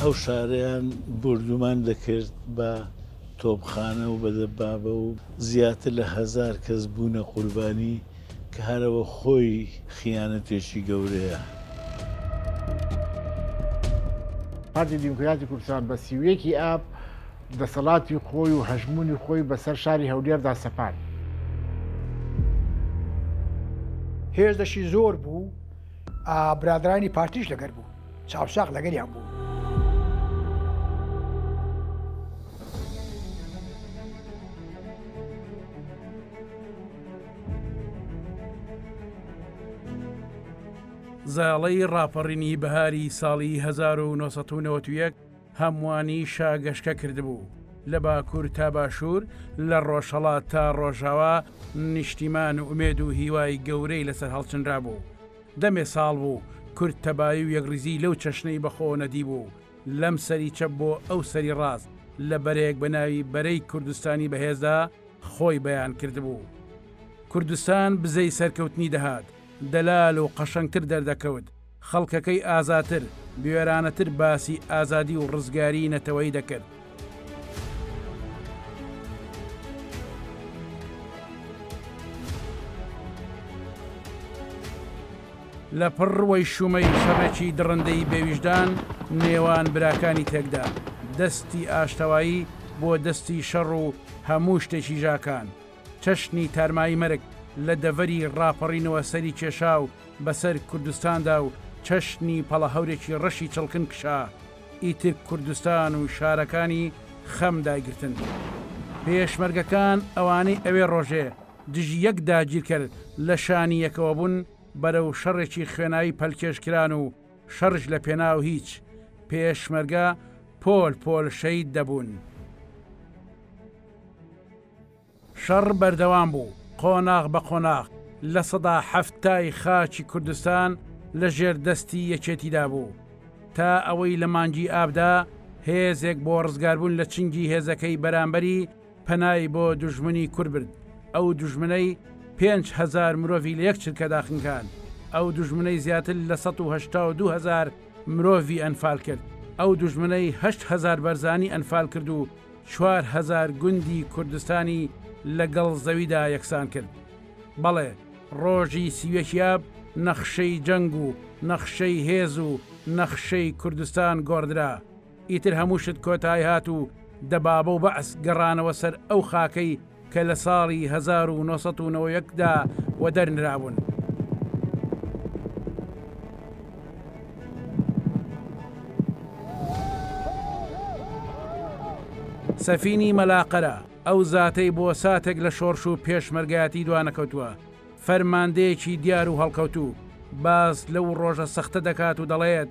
ئەو شارەیان بۆردومان دەکرد بە تۆپخانە و بە دەبابە و زیاتر لە هەزار کەس بوونە قوربانی کە هەرەوە خۆی خیانەتێکی گەورەیە. پارتی دیموکراتی کوردستان بە سی و یەک ی ئاب، دەسەڵاتی خۆی و هەژموونی خۆی بەسەر شاری هەولێردا سەپاند. هێزدشی زۆر بوو، برادرانی پارتیش لەگەر بوون، چاوساغ لەگەریان بوو. زاڵی ڕاپەڕینی بەهاری ساڵی هەزار و نۆ سەد و نەوەد و یەک هەمووانی شا گەشکە کردبوو. لە باکوور تا باشوور، لە ڕۆژهەڵات تا ڕۆژاوا نیشتیمان و ئومێد و هیوای گەورەی لەسەر هەڵچنرابوو. دەمێ ساڵ بوو کورد تەبایی و یەکڕیزیی لەو چەشنەی بە خۆوە نەدیبوو، لەم سەری چەپ بۆ ئەو سەری ڕاست، لە بەرەیەک بە ناوی بەرەی کوردستانی بەهێزدا خۆی بەیان کردبوو. کوردستان بزەی سەرکەوتنی دەهات، دەلال و قەشەنگتر دەردەکەوت. خەڵکەکەی ئازاتر، بوێرانەتر باسی ئازادی و ڕزگاریی نەتەوەیی دەکرد. لە پڕ وەیشوومەی شەڕێکی دڕندەی بێویژدان نێوان براکانی تێکدا، دەستی ئاشتەوایی بۆ دەستی شەڕ و هەموو شتێکی ژاکان. چەشنی تارمایی مەرگ لە دەڤەری ڕاپەڕینەوە سەری کێشا و بەسەر کوردستاندا و چەشنی پەڵەهەورێکی ڕەشی چڵکن کشا، ئیتر کوردستان و شارەکانی خەم دایگرتن. پێشمەرگەکان ئەوانەی ئەوێ ڕۆژێ دژی یەک داگیرکەر لە شانی یەکەوە بوون، بەرەو شەڕێکی خوێناوی پەلکێش کران و شەڕیش لە پێناو هیچ، پێشمەرگە پۆل پۆل شەید دەبوون. شەڕ بەردەوام بوو، قۆناغ بە قۆناغ لە سەدا حەفتای خاکی کوردستان لە ژێر دەستی یەکێتیدا بوو، تا ئەوەی لە مانگی ئابدا هێزێک بۆ ڕزگاربوون لە چنگی هێزەکەی بەرامبەری پەنای بۆ دوژمنی کورد برد، ئەو دوژمنەی پێنج هەزار مرۆڤی لە یەک چرکەدا خنکاند، ئەو دوژمنەی زیاتر لە سەد و هەشتا و دوو هەزار مرۆڤی ئەنفالکرد، ئەو دوژمنەی هەشت هەزار بەرزانی ئەنفالکرد و چوار هەزار گوندی کوردستانی لە گەڵ زەویدا یەکسان کرد. بەڵێ ڕۆژی سی و یەکی ئاب نەخشەی جەنگ و نەخشەی هێز و نەخشەی کوردستان گۆڕدرا. ئیتر هەموو شت کۆتایهات و دەبابە و بەعس گەڕانەوە سەر ئەو خاکەی کە لە ساڵی هەزار و نۆ سەد و نەوە و یەک دا وەدەرنرابوون. سەفینی مەلاقەرە، ئەو زاتەی بۆ ساتێک لە شۆڕش و پێشمەرگایەتی دوانەکەوتووە، فەرماندەیەکی دیار و هەڵکەوتوو، باس لەو ڕۆژە سەختە دەکات و دەڵێت،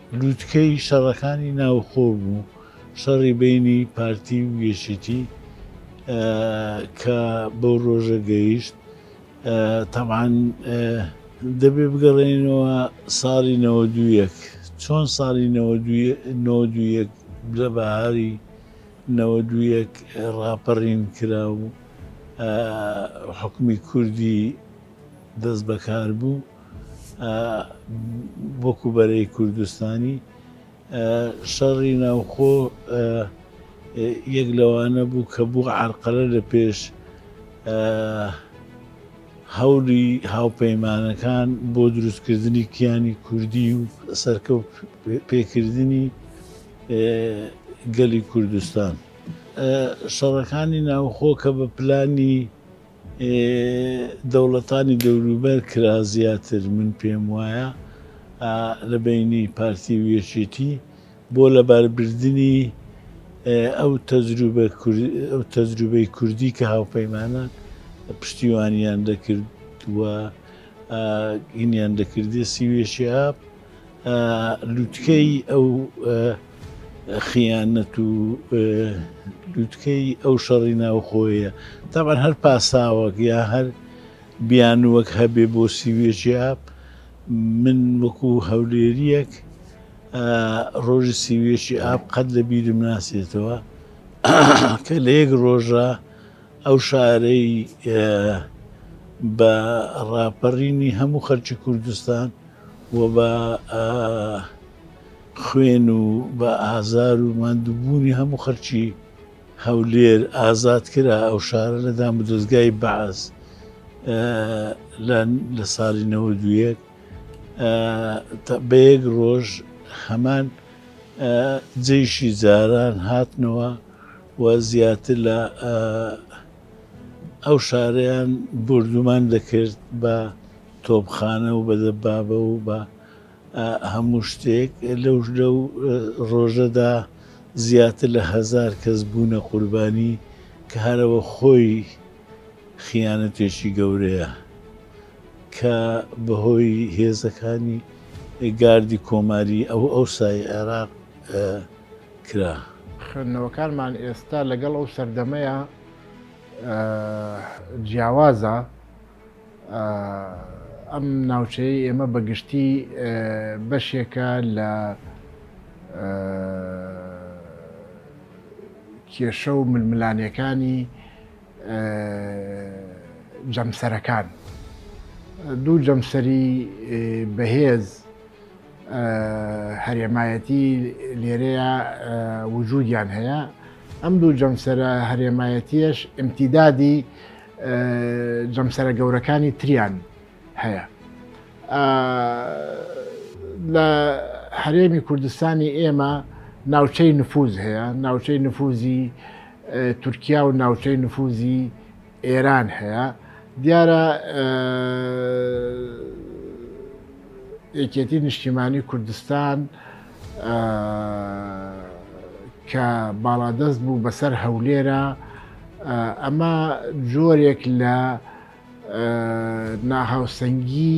لوتکەی شەڕەکانی ناوخۆ بوو، شەڕی بەینی پارتی و یەکێتی کە بەو ڕۆژە گەیشت، تەبعەن دەبێ بگەڕێینەوە ساڵی نەوەد و یەک، چۆن ساڵی نەوەد و یەک لە بەهاری نەوەد و یەک ڕاپەڕین کرا و حوکمی کوردی، دەست بەکار بوو وەکو بەرەی کوردستانی شەڕی ناوخۆ یەک لەوانە بوو کە بوو عرقەرە لە پێش هەولی هاوپەیمانەکان بۆ دروستکردنی کیانی کوردی و سەرکەوت پێکردنی گەلی کوردستان شەڕەکانی ناوخۆ کە بە پلانی دەوڵەتانی دەوروبەر کرا زیاتر من پێم وایە لە بەینی پارتی و یەکێتی بۆ لەباربردنی ئەو تەجروبەی کوردی کە هاوپەیمانان پشتیوانیان دەکرد و هینیان دەکردی سی و یەکی ئاب. لوتکەی ئەو خیانەت و لوتکەی ئەو شەڕی ناوخۆیە تاوان هەر پاساوەک یا هەر بیانوەک هەبێ بۆ سیوێژیا من وەکو هەولێریەک ڕۆژی سیوێشی ئاب قەت لە بیرم ناسێتەوە کە لە یەک ڕۆژە ئەو شارەی بە ڕاپەڕینی هەموو خەرکی کوردستان و بە خوێن و بە ئازار و ماندووبوونی هەموو خەڵکی هەولێر ئازاد کرا ئەو شارە لە دامودەزگای بەعس لە ساڵی نەوەد و یەک بە یەک ڕۆژ هەمان جەیشی جاران هاتنەوە و زیاتر لە ئەو شارەیان بۆردومان دەکرد بە تۆپخانە و بە دەبابە و بە هەموو شتێک، لەو لەو ڕۆژەدا زیاتر لە هەزار کەس بوونە قوربانی کە هەرەوە خۆی خیانەتێکی گەورەیە کە بەهۆی هێزەکانی گاردی کۆماری ئەو ئەوسای عێراق کرا. خوێندنەوەکانمان ئێستا لەگەڵ ئەو سەردەمەیا جیاوازە، ئەم ناوچەیەی ئێمە بە گشتی بەشێکە لە کێشە و ململانێکانی جەمسەرەکان، دوو جەمسەری بەهێز، هەرێمایەتی لێرەیە وجودیان هەیە ئەم دوو جەمسەرە هەرێمایەتیش ئەمتیدادی جەمسەرە گەورەکانی تریان هەیە لە هەرێمی کوردستانی ئێمە ناوچەی نفوز هەیە ناوچەی نفوزی تورکیا و ناوچەی نفوزی ئێران هەیە دیارە یەکێتی نیشتیمانی کوردستان کە باڵادەست بوو بەسەر هەولێرە ئەمە جۆرێک لە ناهاوسەنگی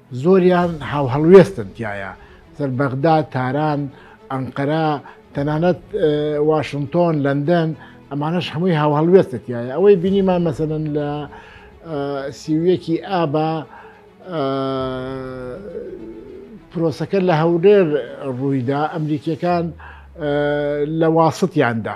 زۆریان هاوهەڵوێستن تیایا، سەر بەغدا، تاران، ئەنقەرە، تەنانەت واشنتۆن، لەندەن، ئەمانەش هەمووی هاوهەڵوێستە تیایا، ئەوەی بینیمان مەسەلەن لە سی و یەکی ئابا پرۆسەکە لە هەولێر ڕوویدا، ئەمریکییەکان لە واسطیاندا.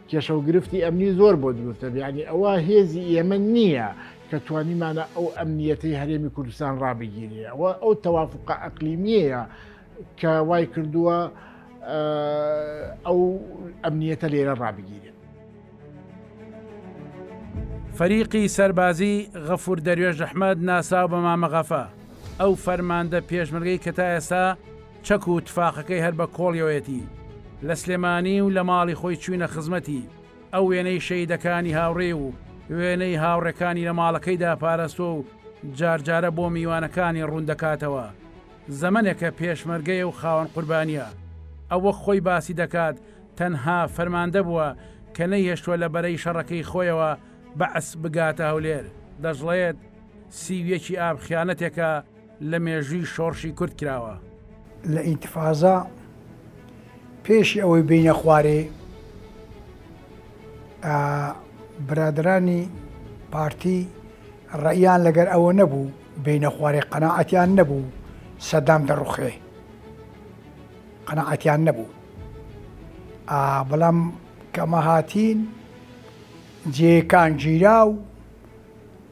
کێشە و گرفتی ئەمنی زۆر بۆ دروستە یعنی ئەوە هێزی ئێمە نییە کە توانیمانە ئەو ئەمنیەتی هەرێمی کوردستان ڕابگیری ئەوە ئەو تەوافقە ئەقلیمیەیە کە وای کردووە ئەو ئەمنیەتە لێرە ڕابگیرێت فەریقی سەربازی غەفور دەروێش ئەحمەد ناسراو بە مامە غەفە ئەو فەرماندە پێشمەرگەی کە تا ئێستا چەک و تفاقەکەی هەر بە کۆڵیەوەیەتی، لە سلێمانی و لە ماڵی خۆی چووینە خزمەتی، ئەو وێنەی شەهیدەکانی هاوڕێی و وێنەی هاوڕێکانی لە ماڵەکەیدا پاراستووە و جارجارە بۆ میوانەکانی ڕوون دەکاتەوە، زەمەنێکە پێشمەرگەیە و خاوەن قوربانییە، ئەو وەک خۆی باسی دەکات تەنها فەرماندە بووە کە نەیهێشتووە لە بەرەی شەڕەکەی خۆیەوە، بەعس، بگاتە هەولێر. دەشڵێت، سی و یەک ی ئاب خیانەتێکە، لە مێژووی شۆڕشی کورد کراوە. لە ئینتفازە پێشی ئەوەی بینە خوارێ برادرانی پارتی ڕێیان لەگەر ئەوە نەبوو بینە خوارێ قەنەعەتیان نەبوو سەدام دەڕوخێ قەنەعەتیان نەبوو بەڵام کەمە هاتین جێکان گیرا و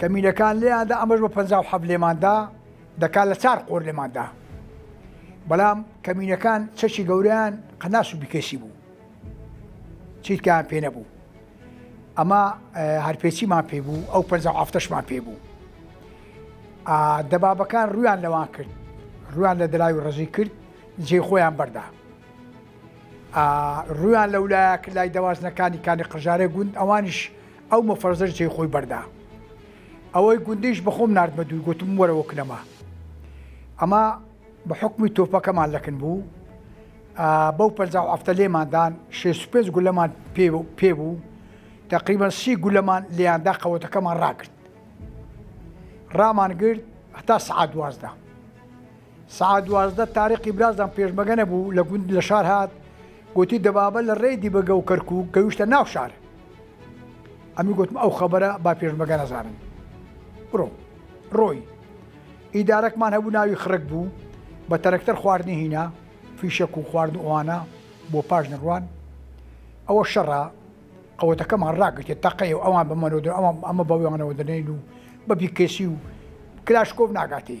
کەمینەکان لێیان دا ئەمەش بە پەنجا و حەفت لێمان دا دەکات لە چار قۆر لێمان دا بەڵام کەمینەکان چەکی گەوریان قەناس و بکەسی بوو چیتکان پێ نەبوو ئەمە هەرپێچیمان پێ بوو ئەو پەنج ئافتەشمان پێ بوو دەبابەکان ڕویان لەوان کرد ڕویان لە دراوی ڕزی کرد جێ خۆیان بەردا ڕویان لەولایە لای دەوازنەکانی کانی قژارە گوند ئەوانش ئەو مەفرەزەش جێی خۆی بەردا. ئەوەی گوندیش بە خۆم ناردمە دووی گوتم وەرەوە کنەما. ئەمە بە حوکمی تۆپەکەمان لەکن بوو. بەو پەنجا و هەفتە لێماندان شێست و پێنج گولەمان پێ بوو تقریبا سی گولەمان لێیاندا قەوەتەکەمان ڕاگرت. ڕامان گرت هەتا سعات دوازدە. سەعات دوازدە تاریقی برازم پێشمەگە نەبوو لە گوند لە شار هات گوتی دەبابە لە ڕێی دیبەگە و کەرکوو گەویشتە ناو شار ئەمی گوتم ئەو خەبەرە با پێشمەگە نەزانن بڕۆ ڕۆی ئیدارەکمان هەبوو ناوی خڕک بوو بە تەرەکتەر خواردنی هینا فیشەک و خوارد ئەوانە بۆ پاش نڕوان ئەوە شەڕە قوتەکەمان ڕاگرێت تەقەی و ئەوان بەمەەوە ئەمە ئەمە بەویانەوە دەنین و بەبی کەسی و کلاشکۆب ناگاتی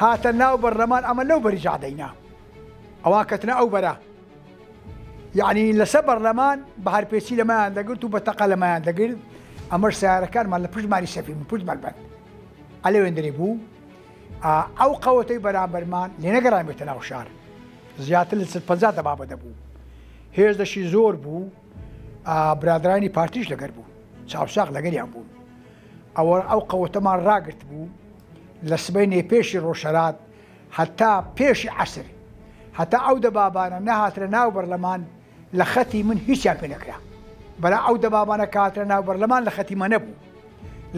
هاتە ناو بەرلەمان ئەمە لەو بەری جا دەینا ئەوان کەتنە ئەو بەرە یعنی لەسە بەرلەمان بە هەرپێچی لەمایان دەگرت و بە تەقە لەمایان دەگرت ئەمەش سیارەکانمان لە پشتمانی سەفی من پشت مەلبەند ئەلێوێندری بوو ئەو قەوەتەی بەرامبەرمان لێنەگەڕامێتە ناو شار زیاتر لە ست پەنجا دەبابە دەبوو هێز دەشی زۆر بوو برادرانی پارتیش لەگەر بوو چاوساق لەگەریان بوون ئەوە ئەو قەوەتەمان ڕاگرتبوو لە سبەینێ پێشی ڕۆژهەلات هەتا پێشی عەسر هەتا ئەو دەبابانە نەهاتنە ناو بەرلەمان لە خەتی من هیچیان پێ نەکرا بەلا ئەو دەبابانە کە هاتنە ناو بەرلەمان لە خەتی مە نەبوو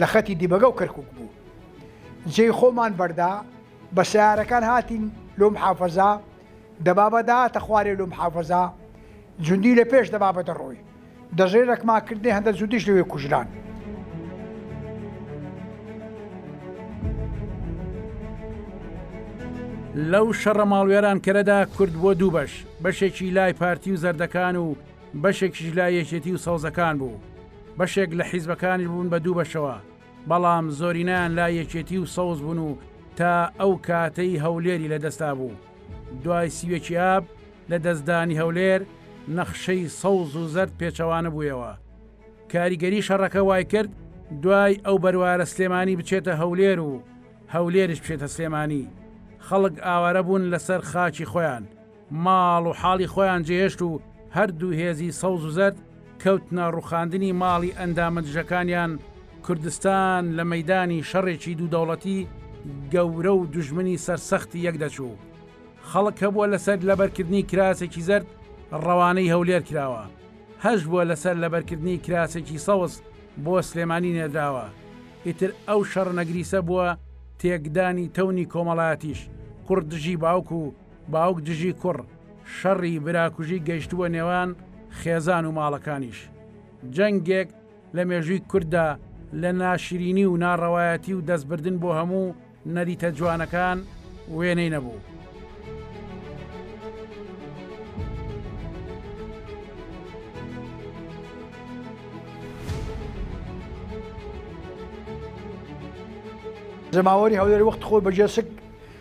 لە خەتی دیبەگە و کەرکک بوو جێی خۆمان بەردا بە سیارەکان هاتین لۆم حافەزا دەبابە دەهاتە خوارێ لۆ محافەزە جوندی لە پێش دەبابە دەڕۆی دەژێ رەکما کردنێ هەندە جوندیش لەوێ کوژران. لەو شەڕە ماڵوێرانکەرەدا کورد بۆ دوو بەش بەشێکی لای پارتی و زەردەکان و بەشێکیش لای یەکێتی و سەوزەکان بوو بەشێک لە حیزبەکانی بوون بە دوو بەشەوە بەڵام زۆرینەیان لای یەکێتی و سەوز بوون و تا ئەو کاتەی هەولێری لەدەستابوو. دوای سی و یەکی ئاب، لە دەستدانی هەولێر، نەخشەی سەوز و زەرد پێچەوانە بوویەوە. کاریگەری شەڕەکە وایکرد دوای ئەو بەروارە سلێمانی بچێتە هەولێر و هەولێریش بچێتە سلێمانی. خەڵک ئاوارە بوون لەسەر خاکی خۆیان. ماڵ و حاڵی خۆیان جێهێشت و هەردوو هێزی سەوز و زەرد کەوتنە ڕوخاندنی ماڵی ئەندامە دژەکانیان، کوردستان لە مەیدانی شەڕێکی دوو دەوڵەتی گەورە و دوژمنی سەرسەختی یەک دەچوو. خەڵک هەبووە لەسەر لەبەرکردنی کراسێکی زەرد ڕەوانەی هەولێر کراوە، هەشبووە لەسەر لەبەرکردنی کراسێکی سەوز بۆ سلێمانی نێردراوە، ئیتر ئەو شەڕە نەگریسە بووە تێکدانی تەونی کۆمەڵایەتیش، کوڕ دژی باوک و. باوک دژی کوڕ، شەڕی براکوژی گەیشتووە نێوان خێزان و ماڵەکانیش. جەنگێک لە مێژووی کورددا لە ناشرینی و ناڕەوایەتی و دەستبردن بۆ هەموو نەریتە جوانەکان وێنەی نەبوو. جەماوەری هەولێر وەختی خۆی بە جەسک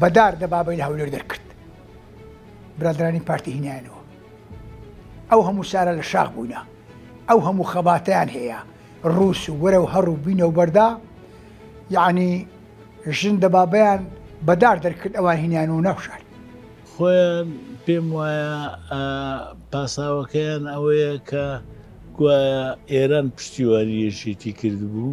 بەدار دە بابەی لە هەولێر دەرکرد برادرانی پارتی هینایانەوە ئەو هەموو سارە لە شاخ بووینە ئەو هەموو خەباتیان هەیە ڕووس و وەرە و هەڕوو بینە و بەردا یعنی ژن دە بابیان بەدار دەرکرد ئەوان هینیان و نەخشار خۆیان پێم وایە پاساوەکەیان ئەوەیە کە گوایە ئێران پشتیوانی یەکێتی کردبوو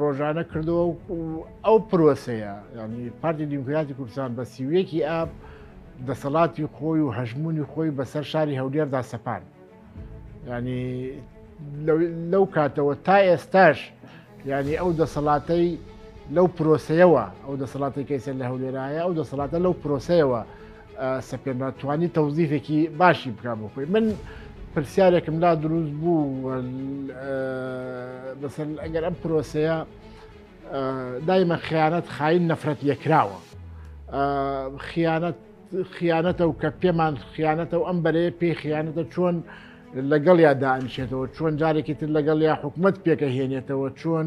ڕۆژانە کردەوە و ئەو پرۆسەیە ینی پارتی دیموکراتی کوردستان بە سیویەکی ئاب دەسەڵاتی خۆی و هەژمونی خۆی بەسەر شاری هەولێردا سەپان ینی لەو کاتەوە تا ئێستاش ینی ئەو دەسەڵاتەی لەو پرۆسەیەوە ئەو دەسەڵاتی کەیسەر لە هەولێرایە ئەو دەسەڵاتە لەو پرۆسەیەوە سپێرمان توانی تەوزیفێکی باشی بکە بۆ خۆی من پرسیارێکم لا دروست بوو بەسەر ئەگەر ئەم پرۆسەیە دایمە خیانەت خاین نەفرەت لێکراوە خیانەت خیانەتە و کە پێمان خیانەتە و ئەم بەرەیە پێی خیانەتە چۆن لەگەڵ یا دانیشێتەوە چۆن جارێکی تر لەگەڵ یا حکومت پێکە هێنێتەوە چۆن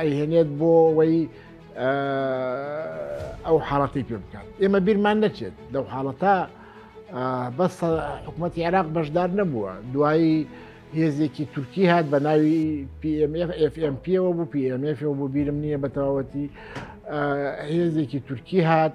ئەیهێنێت بۆ وەی ئەو حاڵەتی پێ بکات ئێمە بیرمان نەچێت لەو حاڵەتە بەس حکوومەت عێراق بەشدار نەبووە دوایی هێزێکی تورکی هات بە ناوی PMFFMPەوە بوو PMFەوە بۆ بیرم نییە بە تەواوەتی هێزێکی تورکی هات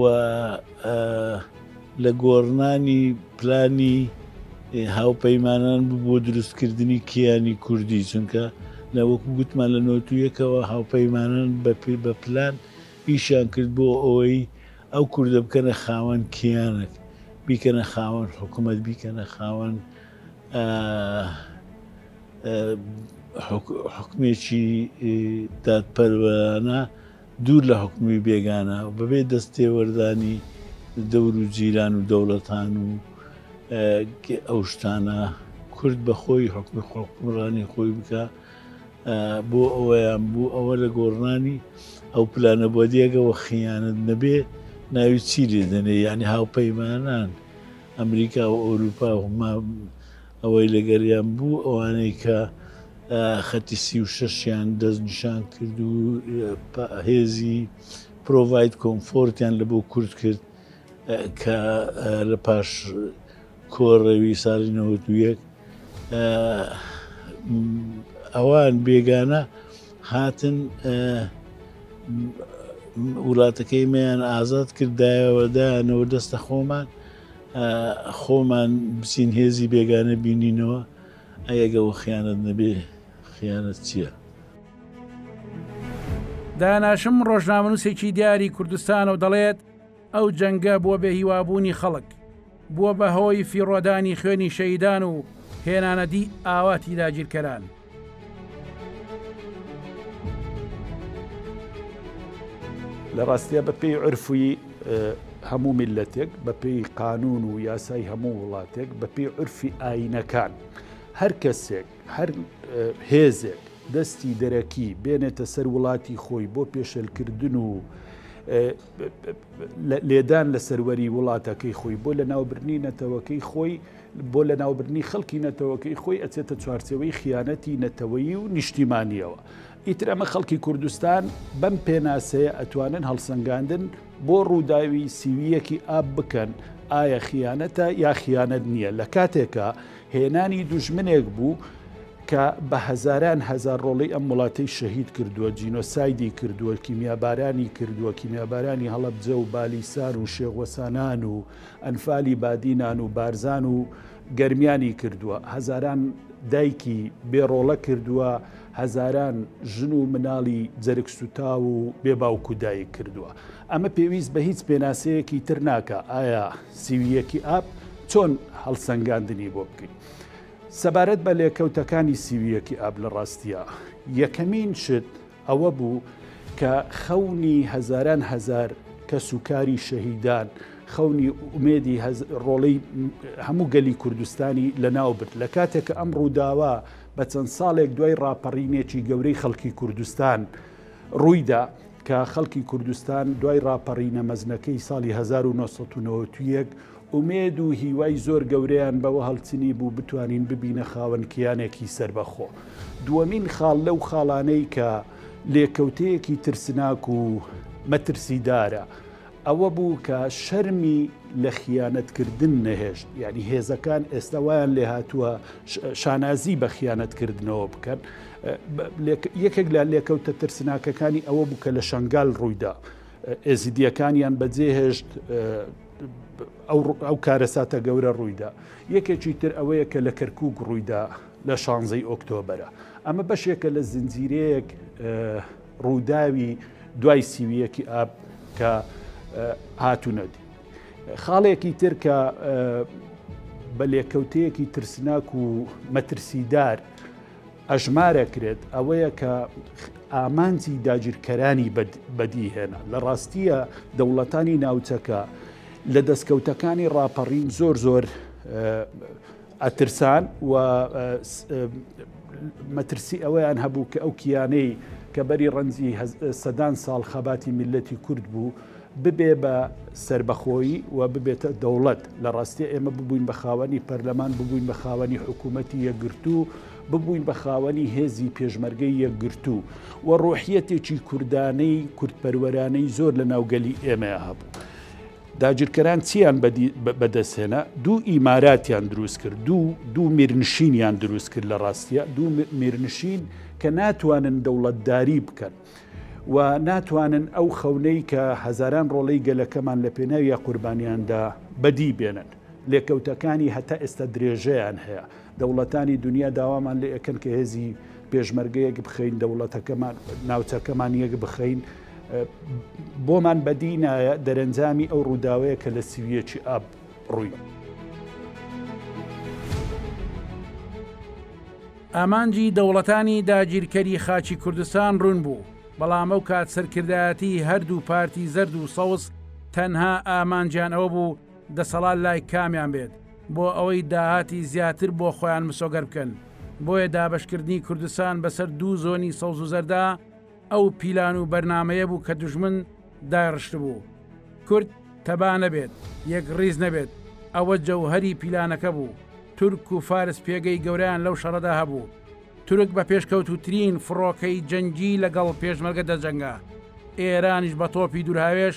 و لە گۆڕنانی پلانی هاوپەیمانان بۆ دروستکردنی کیانی کوردی چونکە لە وەکو گوتمان لە نۆتویەکەوە هاوپەیمانان بەپی بە پلان ئیشیان کرد بۆ ئەوەی ئەو کوردە بکەنە خاوەن کیانەک بیکەنە خاوەن حکوومەت بیکەنە خاوەن حکمێکی دادپەروەانە دوور لە حوکمی بێگانە و بەبێ دەست تێوەردانی دەور و جیران و دەوڵەتان و ئەو شتانە کورد بە خۆی حوکمی حوکمڕانی خۆی بکا بۆ ئەوەیان بوو ئەوە لە گۆڕنانی ئەو پلانە بۆ دیێگەەوە خیانەت نەبێ ناوی چی لێ دەنێ یعنی هاوپەیمانان ئەمریکا و ئەوروپا و ئەوەی لەگەریان بوو ئەوانەی کە خەتی سی و شەش یان دەست نیشان کرد و هێزی پرۆڤید کۆمفۆرتیان لە بۆ کورد کرد کە لە پاش کۆڕەوی ساڵی نەوەتویەک ئەوان بێگانە هاتن وڵاتەکەی میان ئازاد کردایەوە دایانەوە دەستە خۆمان خۆمان بچین هێزی بێگانە بینینەوە ئەی ئەگە وە خیانەت نەبێ خیانەت چییە؟ داناشم ڕۆژنامەنووسێکی دیاری کوردستانە و دەڵێت، ئەو جەنگە بووە بێ هیوابوونی خەڵک، بووە بە هۆی فیڕۆدانی خوێنی شەهیدان و هێنانەدی ئاواتی داگیرکەران. لە ڕاستیا بە پێی عرفوی هەموو میلەتێک بە پێی قانون و یاسای هەموو وڵاتێک بە پێی عرفی ئاینەکان هەر کەسێک هەر هێزێک دەستی دەرەکی بێنێتە سەر وڵاتی خۆی بۆ پێشلکردن و لێدان لە سەروەری وڵاتەکەی خۆی بۆ لە ناوبرنی نەتەوەکەی خۆی بۆ لەناوبردنی خەڵکی نەتەوەکەی خۆی ئەچێتە چوارچێوەی خیانەتی نەتەوەیی و نیشتیمانیەوە ئیتر ئەمە خەڵکی کوردستان بەم پێناسەیە ئەتوانن هەڵسەنگاندن بۆ ڕووداوی سیویەکی ئاب بکەن ئایا خیانەتە یا خیانەت نییە لە کاتێکە هێنانی دوژمنێک بوو کە بە هەزاران هەزار ڕۆڵی ئەم وڵاتەی شەهید کردووە جینۆسایدی کردووە کیمیابارانی کردووە کیمیابارانی هەڵەبجە و بالیسار و شێغوەسانان و ئەنفالی بادینان و بارزان و گەرمیانی کردووە هەزاران دایکی بێڕۆڵە کردووە هەزاران ژن و مناڵی جەرگ سوتاو و بێ باوک و دایک کردووە ئەمە پێویست بە هیچ پێناسەیەکی تر ناکە ئایا سیویەکی ئاپ چۆن هەڵسەنگاندنی بۆ بکەین سەبارەت بە لێکەوتەکانی سیویەکی ئاب لە ڕاستیە یەکەمین شت ئەوە بوو کە خەونی هەزاران هەزار کەس و کاری شەهیدان، خەونی ئومێدی ڕۆڵەی هەموو گەلی کوردستانی لەناو برد. لە کاتێک کە ئەم ڕووداوە بە چەند ساڵێک دوای ڕاپەڕینێکی گەورەی خەڵکی کوردستان ڕوویدا، کە خەڵکی کوردستان دوای ڕاپەڕینە مەزنەکەی ساڵی 1991 ئومێد و هیوای زۆر گەورەیان بەوە هەڵچنی بوو بتوانین ببینە خاوەن کیانێکی سەربەخۆ. دووەمین خاڵ لەو خاڵانەی کە لێکەوتەیەکی ترسناک و مەترسیدارە ئەوە بوو کە شەرمی لە خیانەتکردن نەهێشت، یانی هێزەکان ئێستا وایان لێهاتووە شانازی بە خیانەتکردنەوە بکەن. یەکێک لە لێکەوتە ترسناکەکانی ئەوە بوو کە لە شنگال ڕوویدا ئێزیدیەکانیان بەجێهێشت ئەو کارەساتە گەورە ڕوویدا یەکێکی تر ئەوەیە کە لە کەرکک ڕوویدا لە شانزەی ئۆکتۆبرە ئەمە بەشێکە لە زنجیرەیەک ڕووداوی دوای سیویەکی ئاب کە هاتوونەدی خاڵێکی تر کە بە لێکەوتەیەکی ترسناک و مەترسیدار ئەژمارەکرێت ئەوەیە کە ئامانجی داگیرکەرانی بەدیهێنا لە ڕاستیە دەوڵەتانی ناوچەکە لە دەستکەوتەکانی ڕاپەڕین زۆر زۆر ئەترسان و مەترسی ئەوەیان هەبوو کە ئەو کیانەی کە بەری ڕەنجی سەدان ساڵ خەباتی میلەتی کورد بوو ببێ بە سەربەخۆیی و ببێتە دەوڵەت لە ڕاستیە ئێمە ببووین بە خاوەنی پەرلەمان ببووین بە خاوەنی حکوومەتتی یەکگرتو ببووین بە خاوەنی هێزی پێشمەرگەی یەکگرتو و ڕۆحیەتێکی کوردانەی کوردپەروەرانەی زۆر لە ناوگەلی ئێمە هەبوو. داگیرکەران چیان بەدەستهێنا دوو ئیماراتیان دروست کرد دوو دوو میرنشینیان دروست کرد لە ڕاستیە دوو میرنشین کە ناتوانن دەوڵەتداری بکەن و ناتوانن ئەو خەونەی کە هەزاران ڕۆڵەی گەلەکەمان لە پێناوی قوربانیاندا بەدی بێنن. لێکەوتەکانی هەتا ئێستا درێژەیان هەیە. دەوڵەتانی دونیا داوامان لێ ئەکەن کە هێزی پێشمەرگە یەک بخەین، دەوڵەتەکەمان، ناوچەکەمان یەک بخەین. بۆمان بەدی نایە دەرەنجامی ئەو ڕووداوەیە کە لە سی و یەکی ئاب ڕووی. ئامانجی دەوڵەتانی داگیرکەری خاکی کوردستان ڕوون بوو، بەڵام ئەو کات سەرکردایەتی هەردوو پارتی زەرد و سەوز تەنها ئامانجیان ئەوە بوو دەسەڵات لای کامیان بێت بۆ ئەوەی داهاتی زیاتر بۆ خۆیان مسۆگەر بکەن، بۆیە دابەشکردنی کوردستان بەسەر دوو زۆنی سەوز و زەردا، ئەو پیلان و بەرنمەیە بوو کە دژمن داڕشت بوو کورد تەبا نەبێت یەک ڕیز نەبێت ئەوە جەوهری پیلانەکە بوو تورک و فارس پێگەی گەوریان لەو شەڕەدا هەبوو تورک بە پێشکەوتوترین فڕۆکەی جەنگی لەگەڵ پێشمەرگە دەجەنگا ئێرانیش بە تۆپی دورهاوێش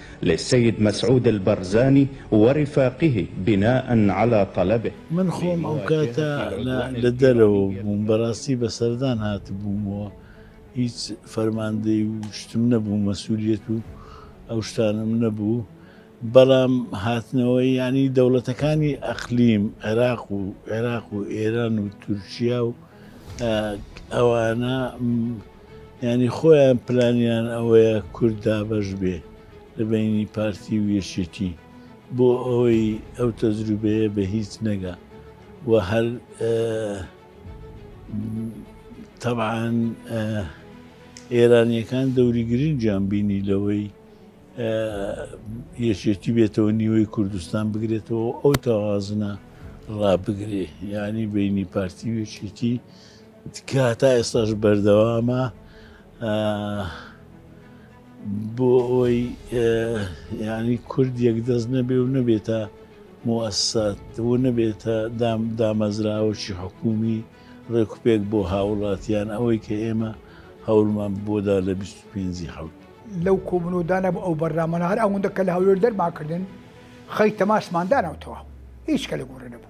لسید مسعود البرزانی ورفاقه بناء علی طلبه. من خۆم ئەو کاتە لە دەرەوە بووم بەراستی بە سەردان هاتبووم و هیچ فەرماندەی و شتم نەبوو مەسولیەت و ئەو شتانەم نەبوو بەڵام هاتنەوەی یانی دەوڵەتەکانی ئەقلیم عێراق و عێراق و ئێران و تورکیا و ئەوانە یانی خۆیان پلانیان ئەوەیە کورد دابەش بێ لە بەینی پارتی و یەکێتی بۆ ئەوەی ئەو تەجروبەیە بە هیچ نەگا و هەر تەبعان ئێرانیەکان دەوری گرنگیان بینی لەوەی یەکێتی بێتەوە نیوەی کوردستان بگرێتەوە ئەو تەوازنە ڕابگرێ یانی بینی پارتی وێکێتی تکا تا ئێستاش بەردەوامە بۆ ئەوەی یانی کورد یەک دەست نەبێ و نەبێتە موەسات و نەبێتە دام دامەزراوەشی حکومی ڕێکوپێک بۆ هاوڵاتیان ئەوەی کە ئێمە هەوڵمان بۆدا لە 25 حوت لەو کۆبنەوەدانە بۆ ئەو بەرنامەە هەر ئەوەندە کە لە هەولێر دەرماکردن خەی تەماسماندانەوتەوە هیچ کە لە گۆڕێ نەبوو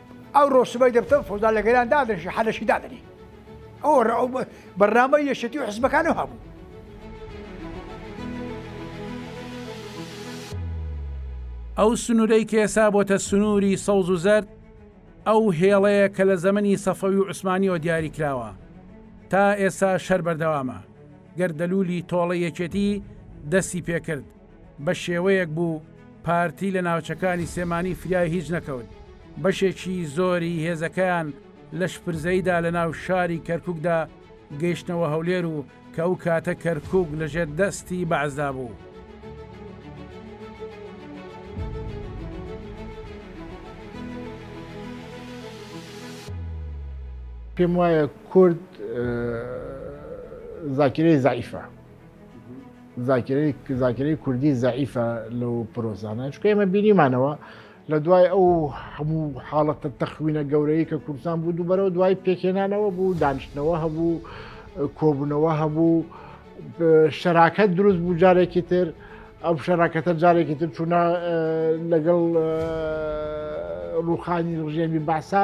ئەوڕۆ سبەی دەبتەوە فەوزا لە گەران دادەنیشی حەلەشی دادەنی ئەو ئەو بەرنامە یەشێتی و حزبەکانە هەبوو ئەو سنوورەی کێسا بۆتە سنووری سەوز و زەرد ئەو هێڵەیە کە لە زەمەنی سەفەوی و عوسمانیەوە دیاری کراوە تا ئێستا شەر بەردەوامە گەردەلولی تۆڵە یەکێتی دەستی پێکرد بە شێوەیەک بوو پارتی لە ناوچەکانی سێمانی فریای هیچ نەکەوت، بەشێکی زۆری هێزەکەیان لە شپرزەیدا لە ناو شاری کەرکوکدا گەیشتنەوە هەولێر و کە ئەو کاتە کەرکوک لە ژێر دەستی بەعسدا بوو. پێم وایە کورد زاکیرەی زەعیفە. زاکرەی کوردی زعیفە لەو پرۆزانە چکە ئێمە بینیمانەوە لە دوای ئەو هەموو حاڵەتە تەخوینە گەورەی کە کوردستان بوو دوو بەرەو دوای پێکێنانەوە بوو دانیشتنەوە هەبوو کۆبوونەوە هەبوو شەراکەت دروست بوو جارێکی تر ئەو شەراکەتە جارێکی تر چوونە لەگەڵ ڕوخانی ڕژێمی باسا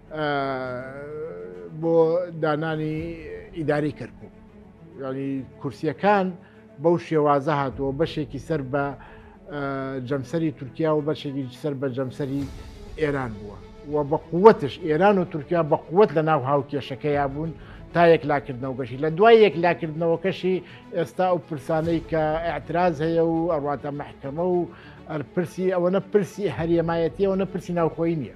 بۆ دانانی ئیداری کەرکک ینی کورسیەکان بەو شێوازە هاتووە بەشێکی سەر بە جەمسەری تورکیا و بەشێکی سەر بە جەمسەری ئێران بووە و بە قوتش ئێران و تورکیا بە قوت لە ناو هاوکێشەکەیا بوون تا یەک لاکردنەوەگەشی لە دوای یەک لاکردنەوەکەشی ئێستا ئەو پرسانەی کە ئەعتراز هەیە و ئەڕاتە محکەمە و پرسی ئەوەنە پرسی هەریەمایەتی ئەوەنە پرسی ناوخۆی نییە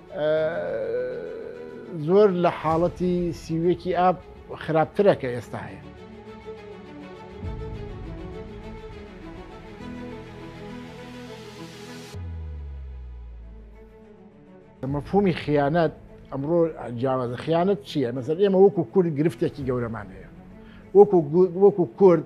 زۆر لە حاڵەتی سیوێکی ئاب خراپترە کە ئێستا هەیە مەفهومی خیانەت ئەمڕۆ جیاوازە خیانەت چییە مەسەر ئێمە وەکو کورد گرفتێکی گەورەمان هەیە وەکو وەکو کورد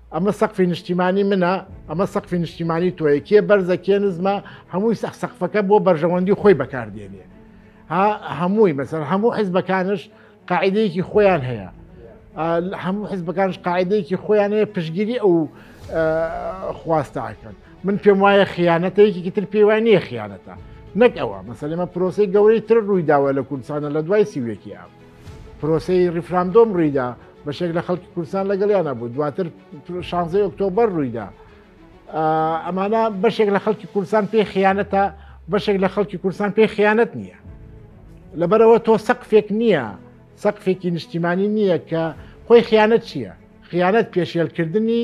ئەمە سەقفی نیشتیمانی منە ئەمە سەقفی نیشتیمانی تۆیە کێ بەرزە کێ نزمە هەمووی سەخ سەقفەکە بۆ بەرژەوەندی خۆی بەکاردێنێ ها هەمووی مەسەر هەموو حیزبەکانش قاعدەیەکی خۆیان هەیە هەموو حیزبەکانش قاعدەیەکی خۆیان هەیە پشگیری ئەو خواستەکەن من پێم وایە خیانەتەیەکی تر پێی وای نییە خیانەتە نەک ئەوە مەسەلەمە پرۆسی گەورەی تر ڕوویداوە لە کوردستانە لە دوای سیوێکی ئەم پرۆسەی ڕیفراندۆم ڕوویدا بەشێک لە خەڵکی کوردستان لەگەڵیانە بوو دواتر شانزەی ئۆکتۆبەر ڕوویدا ئەمانە بەشێک لە خەڵکی کوردستان پێی خیانەتە بەشێک لە خەڵکی کوردستان پێی خیانەت نییە لەبەرەوە تۆ سەقفێک نییە سەقفێکی نیشتیمانی نییە کە خۆی خیانەت چییە خیانەت پێشێلکردنی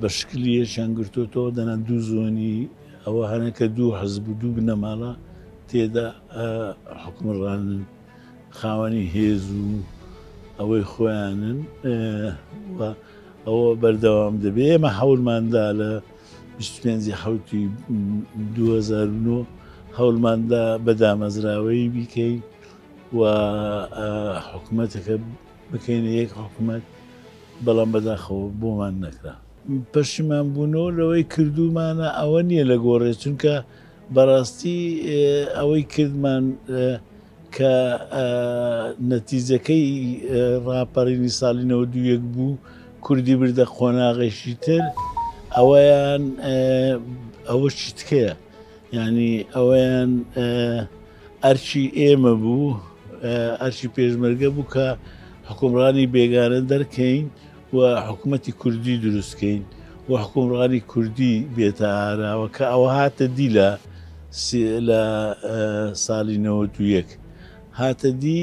بە شکلی یەکیان گرتۆتەوە دەنا دوو زۆنی ئەوە هەنە کە دوو حەزب و دوو بنەماڵە تێدا حکومڕانن خاوەنی هێز و ئەوەی خۆیانن ئەوە بەردەوام دەبێ ئێمە حەولماندا لە 25 حوتی 2009 هەولماندا بە دامەزراوەی بیکەین و حکوومەتەکە بکەینە یەک حکومەت بەڵام بەداخەوە بۆمان نەکرا. پەشیمان بوونەوە لەوەی کردوومانە ئەوە نییە لە گۆڕێ چونکە بەڕاستی ئەوەی کردمان کە نەتیجەکەی ڕاپەڕینی ساڵی نەوەد و یەک بوو کوردی بردە قۆناغێکی تر ئەوەیان ئەوە چیتکەیە یعنی ئەوەیان ئەرکی ئێمە بوو، ئەرکی پێشمەرگە بوو کە حکومڕانی بێگانە دەرکەین و حکوومەتی کوردی دروستکەین و حکومڕانی کوردی بێتە ئاراوە کە ئەوە هاتە دی لە لە ساڵی نەوەد و یەک هاتە دی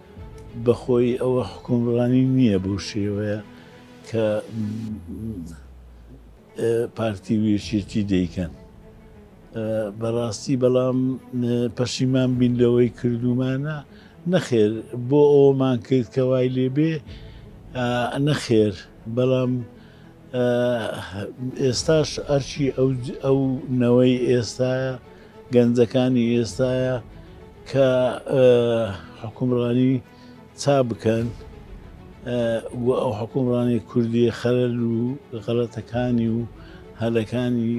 بەخۆی ئەوە حکومڕانی نیە بەو شێوەیە کە پارتی و یەکێتی دەیکەن بەڕاستی بەڵام پەشیمان بین لەوەی کردومانە نەخێر بۆ ئەومان کرد کە وای لێبێ نەخێر بەڵام ئێستاش ئەرچی ئەو نەوەی ئێستاە گەنجەکانی ئێستایە کە حکومڕانی چا بکەن و ئەو حکومڕانی کوردی خەرەر و غەڵەتەکانی و هەلەکانی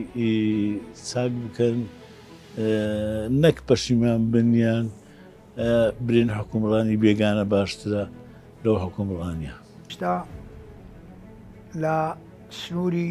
چاک بکەن نەک پەشیمان بنیان برین حکومڕانی بێگانە باشترە لەو حکومڕانە شتا لە سنووری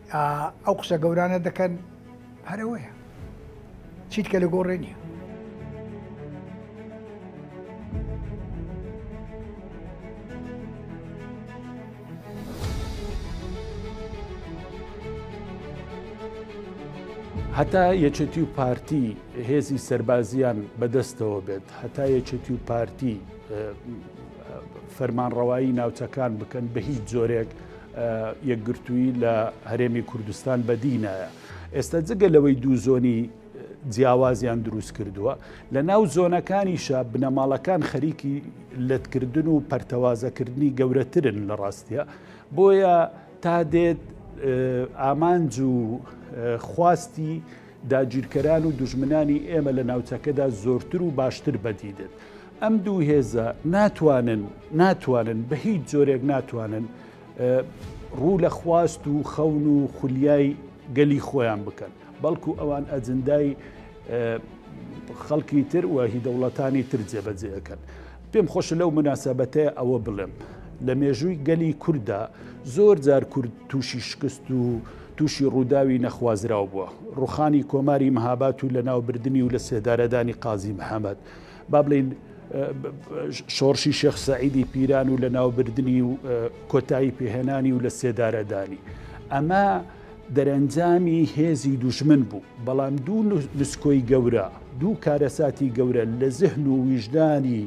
ئەو قسە گەورانە دەکەن هەرەوەیە چیت کە لە گۆڕێ نییە هەتا یەکێتی و پارتی هێزی سربازیان بەدەستەوە بێت هەتا یەکێتی و پارتی فەرمانڕەوایی ناوچەکان بکەن بە هیچ جۆرێک یەکگرتووی لە هەرێمی کوردستان بەدی نایە ئێستا جگە لەوەی دوو زۆنی جیاوازیان دروست کردووە لە ناو زۆنەکانیشە بنەماڵەکان خەریکی لەتکردن و پەرتەوازەکردنی گەورەترن لە ڕاستە بۆیە تا دێت ئامانج و خواستی داگیرکەران و دژمنانی ئێمە لە ناوچەکەدا زۆرتر و باشتر بەدیدن ئەم دوو هێزە ناتوانن ناتوانن بە هیچ جۆرێک ناتوانن ڕوو لە خواست و خەون و خولیای گەلی خۆیان بکەن بەڵکو ئەوان ئەجندای خەڵکی تر و هی دەوڵەتانی تر جێبەجێەکەن پێم خۆش لەو مناسبەتە ئەوە بڵێم لە مێژووی گەلی کووردا زۆر جار کورد تووشی شکست و تووشی ڕووداوی نەخوازراو بووە ڕوخانی کۆماری مەهابات و لە ناوبردننی و لە سێدارەدانی قازی محەممەد با بڵێین شۆڕشی شێخ سەعیدی پیران و لە ناوبردنی و کۆتایی پێهێنانی و لە سێدارەدانی ئەمە دەرەنجامی هێزی دوژمن بوو بەڵام دوو لسکۆی گەورە دوو کارەساتی گەورە لە زهن و ویژدانی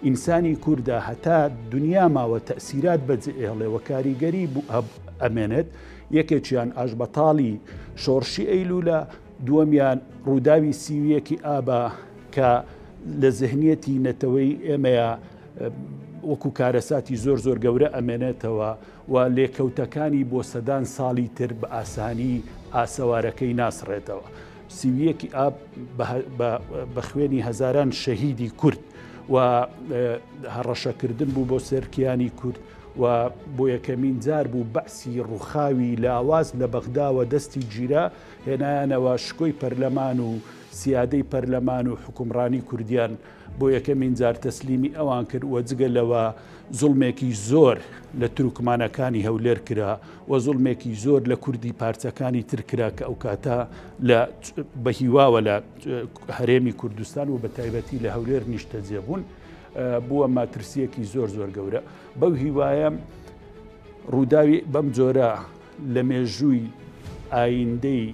ئینسانی کووردا هەتا دنیا ماوە تەسیرات بەجێهڵێەوە کاریگەری ئەمێنێت یەکێکیان ئاش بەتاڵی شۆڕشی ئەیلوولە دووەمیان ڕووداوی سی و یەکی ئابە کە لە زهنیەتی نەتەوەی ئێمەیە وەکو کارەساتی زۆر زۆر گەورە ئەمێنێتەوە و لێکەوتەکانی بۆ سەدان ساڵی تر بە ئاسانی ئاسەوارەکەی ناسڕێتەوە. سیویەکی ئاب بە خوێنی هەزاران شەهیدی کورد و هەڕەشەکردن بوو بۆ سەرکیانی کورد و بۆ یەکەمین جار بوو بەعسی ڕووخاوی لاواز لە بەغداوە دەستی گیرا هێنایانەوە شکۆی پەرلەمان و سیادەی پەرلەمان و حوکمڕانی کوردیان بۆ یەکەمین جار تەسلیمی ئەوان کرد و جگە لەوە زوڵمێکی زۆر لە تورکمانەکانی هەولێر کرا و زوڵمێکی زۆر لە کوردی پارچەکانی تر کرا کە ئەو کاتە لە بە هیواوە لە هەرێمی کوردستان و بە تایبەتی لە هەولێر نیشتەجێ بوون بووە ماترسیەکی زۆر زۆر گەورە بەو هیوایە ڕووداوی بەم جۆرە لە مێژووی ئایندەی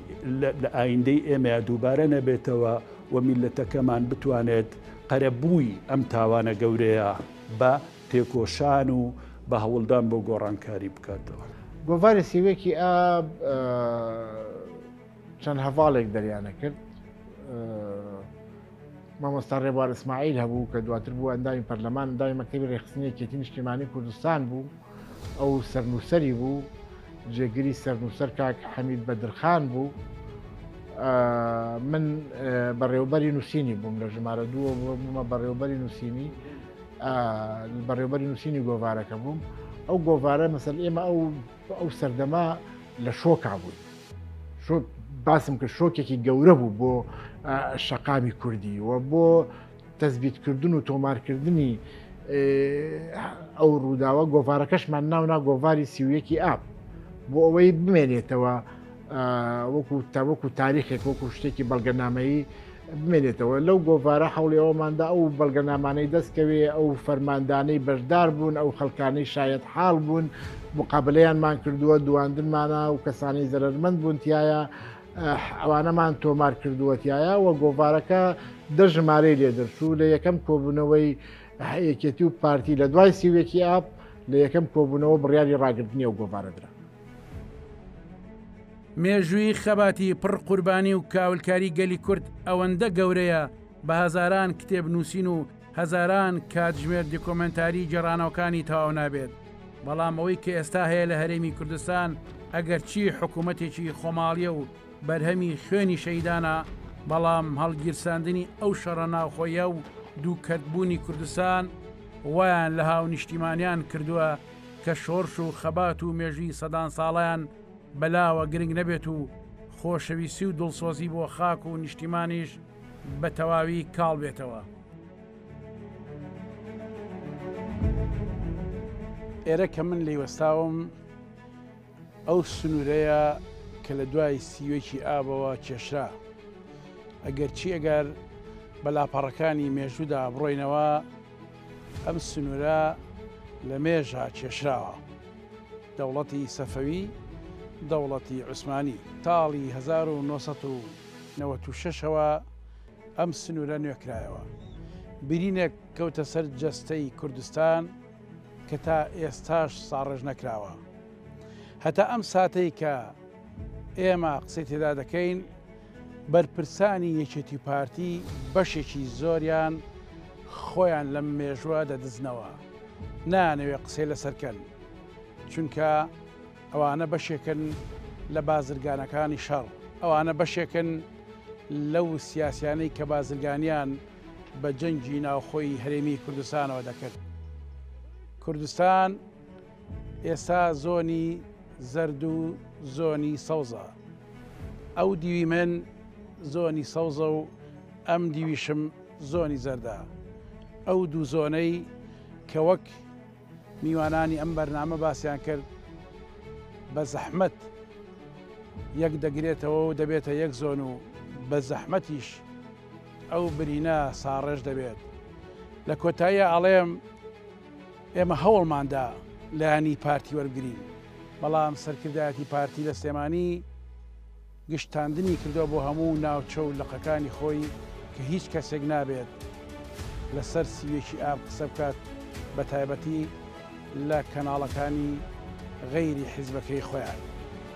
لە ئایندەی ئێمەیە دووبارە نەبێتەوە و میللەتەکەمان بتوانێت قەرەبووی ئەم تاوانە گەورەیە بە تێکۆشان و بە هەوڵدان بۆ گۆڕانکاری بکاتەوە. گۆڤاری سیوەکی ئاب چەند هەڤاڵێک دەریانە کرد مامۆستا ڕێبوار ئیسماعیل هەبوو کە دواتر بوو ئەندامی پەرلەمان ئەندامی مەکتەبی ڕێکخستنی یەکێتی نیشتیمانی کوردستان بوو ئەو سەرنووسەری بوو جێگری سەرنووسەر کاک حەمید بەدرخان بوو من بەڕێوبەری نووسینی بووم لە ژمارە دووە بوومە بەڕێوبەری نووسینی بەڕێوبەری نووسینی گۆوارەکە بووم ئەو گۆوارە مەسەر ئێمە ئەو ئەو سەردەما لە شۆکا بوون باسم کرد شۆکێکی گەورە بوو بۆ شەقامی کوردی و بۆ تەزبیتکردن و تۆمارکردنی ئەو ڕووداوە گۆڤارەکەشمان ناونا گۆڤاری سیویەکی ئاپ بۆ ئەوەی بمێنێتەوە وەکو تاوەکو تاریخێک وەکو شتێکی بەڵگەنامەیی بمێنێتەوە لەو گۆڤارە حەوڵی ئەوماندا ئەو بەڵگەنامانەی دەستکەوێ ئەو فەرماندانەی بەشدار بوون ئەو خەلکانەی شایەت حاڵ بوون مقابلیانمان کردووە دواندنمانە و کەسانی زەرمەند بوونتیایە ئەوانەمان تۆمار کردووەتیایە و گۆڤارەکە دە ژمارەی لێ دەرچوو لە یەکەم کۆبوونەوەی یەکێتی و پارتی لە دوای سیوێکی ئاپ لە یەکەم کۆبوونەوە بڕیاری ڕاگررتنی و گۆڤارەدرا مێژووی خەباتی پڕ قوربانی و کاولکاری گەلی کورد ئەوەندە گەورەیە بە هەزاران کتێب نووسین و هەزاران کاتژمێر دیکۆمێنتاری گێڕانەوەکانی تەواو نابێت بەڵام ئەوەی کە ئێستا هەیە لە هەرێمی کوردستان ئەگەرچی حکوومەتێکی خۆماڵیە و بەرهەمی خوێنی شەیدانە بەڵام هەڵگیرساندنی ئەو شەڕە ناوخۆیە و دووکەتبوونی کوردستان وایان لە هاونیشتیمانیان کردووە کە شۆرش و خەبات و مێژووی سەدان ساڵیان بەلاوە گرنگ نەبێت و خۆشەویستی و دڵسۆزی بۆ خاک و نیشتیمانیش بە تەواوی کاڵ بێتەوە. ئێرە کە من لێی وەستاوم ئەو سنوورەیە کە لە دوای سیوێکی ئابەوە کێشرا ئەگەر چی ئەگەر بە لاپەڕەکانی مێژوودا بڕۆینەوە ئەم سنوورە لە مێژە کێشراوە. دەوڵەتی سەفەوی، دەوڵەتی عوسمانی. ساڵی هەزار و نۆ سەد و نەوەد و شەش ەوە ئەم سنوورە نوێ کرایەوە. برینێک کەوتە سەر جەستەی کوردستان کە تا ئێستاش ساڕێژ نەکراوە. هەتا ئەم ساتەی کە ئێمە قسەی تێدا دەکەین، بەرپرسانی یەکێتی پارتی بەشێکی زۆریان خۆیان لەم مێژوە دەدزنەوە نانەوێ قسەی لەسەرکەن چونکە ئەوانە بەشێکن لە بازرگانەکانی شەڕ ئەوانە بەشێکن لەو سیاسیانەی کە بازرگانیان بە جەنگی ناوخۆی هەرێمی کوردستانەوە دەکرد کوردستان ئێستا زۆنی زەرد و زۆنی سەوزە ئەو دیوی من زۆنی سەوزە و ئەم دیویشم زۆنی زەردە ئەو دوو زۆنەی کە وەک میوانانی ئەم بەرنامە باسییان کرد بە زەحمت یەک دەگرێتەوە و دەبێتە یەک زۆن و بە زەحمەتیش ئەو برینە ساڕێژ دەبێت لە کۆتاییە ئەڵێم ئێمە هەوڵماندا لایەنی پارتی وەربگرین، بەڵام سەرکردایەتی پارتی لە سلێمانی گشتاندنی کردووە بۆ هەموو ناوچە و لقەکانی خۆی کە هیچ کەسێک نابێت لەسەر سی و یەکی ئاب قسە بکات بە تایبەتی لە کەناڵەکانی غەیری حیزبەکەی خۆیان.